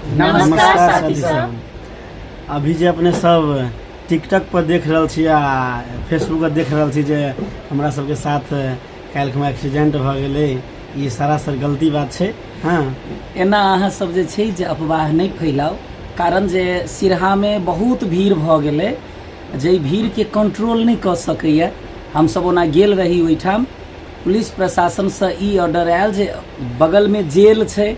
नमस्कार साथी सब अभी जे अपने सब टिकटॉक पर देख रहल छी आ फेसबुक पर देख रहल छी जे हमरा सबके साथ काल्हि खुमा एक्सीडेंट भऽ गेलै ई सरासर गलती बात छै हँ एना अहाँ सब जे छै जे अफवाह नहि फैलाउ कारण जे सिरहामे बहुत भीड़ भऽ गेलै जाहि भीड़के कंट्रोल नहि कऽ सकैए हमसभ ओना गेल रही ओहिठाम पुलिस प्रशासनसँ ई ऑर्डर आयल जे बगलमे जेल छै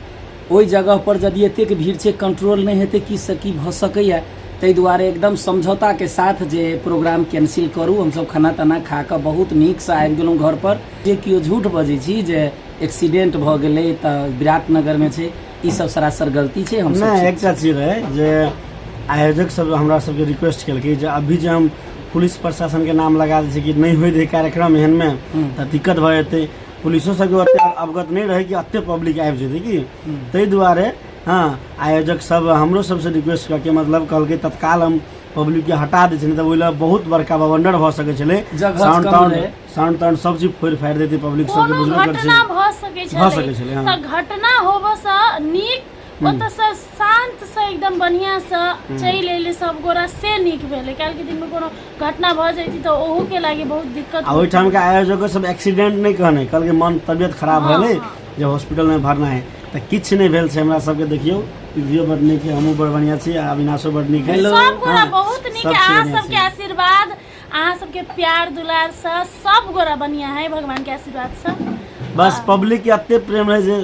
ओहि जगह पर यदि एतेक भीड़ छै कंट्रोल नहि हेतै की से की भऽ सकैया ताहि दुआरे एकदम समझौता के साथ जे प्रोग्राम कैंसिल करू हमसब खाना ताना खा कऽ बहुत नीक से आबि गेलहुँ घर पर जे केओ झूठ बजै छी जे एक्सीडेंट भऽ गेलै तऽ विराटनगर में छै ई सब सरासर गलती छै हम नहि एकटा चीज रहै जे आयोजक सब हमरा सबके रिक्वेस्ट केलकै जे अभी जे हम पुलिस प्रशासन के नाम लगा दै छै कि नहि होय दे कार्यक्रम एहन में तऽ दिक्कत भऽ जेतै पुलिसो सबके ओते अवगत नहीं रहे कि अते पब्लिक आबि जेतै कि ताहि दुआरे हँ आयोजक सब हमरो सबसँ रिक्वेस्ट करके मतलब कहलकै तत्काल हम पब्लिक के हटा दै छलियै तऽ ओहि लए बहुत बड़का बवंडर भऽ सकै छलै जगह साउंड कम ताउंड रहै। साउंड ताउंड सब चीज फोड़ि फाड़ि देतै पब्लिक सबके कोनो बुझबो करै घटना छै भऽ सकै भऽ छलै सकै छलै, हँ। तऽ घटना होबऽसँ नीक ओतऽ से शांत से एकदम बढ़िया से चलि एले सब गोरा से नीक भेले काल्हि के दिन में कोनो घटना भऽ जैती तऽ ओहू के लागे बहुत दिक्कत आ ओहिठाम के आयोजक सब एक्सीडेंट नहि कहने कहलकै मन तबियत खराब हँ, भेलै हँ। जे हॉस्पिटल में भरना है तऽ किछु नहि भेल छै हमरा सबके देखियौ पृथ्वीओ बड नीक है हमहूँ बड़ बढ़िया छी आ अविनाशो बड नीक है सब गोरा हँ, बहुत नीक सब है अहाँ बढ़िया सबके छै। आशीर्वाद अहाँ सबके प्यार दुलार से सब गोरा बढ़िया है भगवान के आशीर्वाद से बस पब्लिक के एते प्रेम रहै जे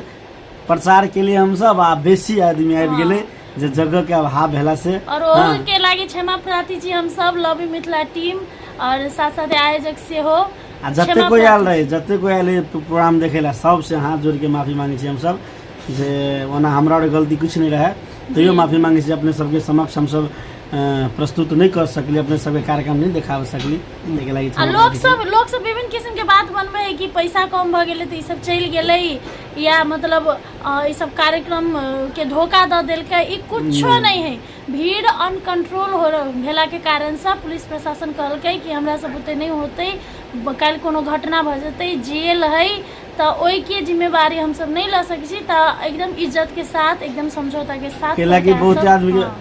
प्रचार के लिए हम सब आ बेसी आदमी आबि गेलै जे जगह के अभाव भेला से और हाँ, ओहू के लागी क्षमा प्रार्थी छी हम सब लव यू मिथिला टीम और साथ साथ आयोजक से हो आ जते क्षमा कोई आयल प्रार्थी। रहे जते कोई आयल रहे प्रो- प्रोग्राम देखे ला सबसे हाथ जोड़ के माफी मांगे छी हम सब जे ओना हमरा और गलती कुछ नहीं रहे तैयो माफी मांगे छी अपने सबके समक्ष हम सब अ, प्रस्तुत नहीं कर सकली अपने सबके कार्यक्रम नहीं देखाबे सकली देखे लगी आ लोग सब लोग सब विभिन्न किस्म के बात बनबे है कि पैसा कम भ गेले तो ई सब चल गेले या मतलब अ, ई सब कार्यक्रम अ, के धोखा द देलके ई कुछो नहीं है भीड़ अनकंट्रोल हो रह- भेला के कारण से पुलिस प्रशासन कहलकै कि हमरा सब बुते नहीं होते ब- काल्हि कोनो घटना भ जेते जेल है तो ओई के जिम्मेवारी हम सब नहीं ल सकै छी तो एकदम इज्जत के साथ एकदम समझौता के साथ केला की सरकार बहुत सब- आदमी के- हाँ।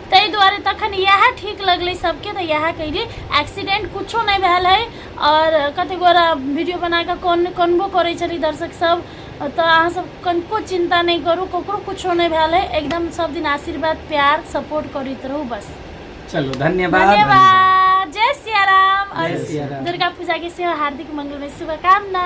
ताहि दुआरे तखन इएह ठीक लगलै सबके तऽ इएह कैली एक्सीडेंट कुछो नहि भेल है और कते गोरा वीडियो बना कऽ कौन कनबो करै छलै दर्शक सब तऽ अहाँ सब कनको चिंता नहि करू ककरो कुछो नहि भेल है एकदम सब दिन आशीर्वाद प्यार सपोर्ट करैत रहू बस चलो धन्यवाद धन्यवाद जय सिया राम और जय सिया राम। दुर्गा पूजा के सेहो हार्दिक मंगलमय शुभकामना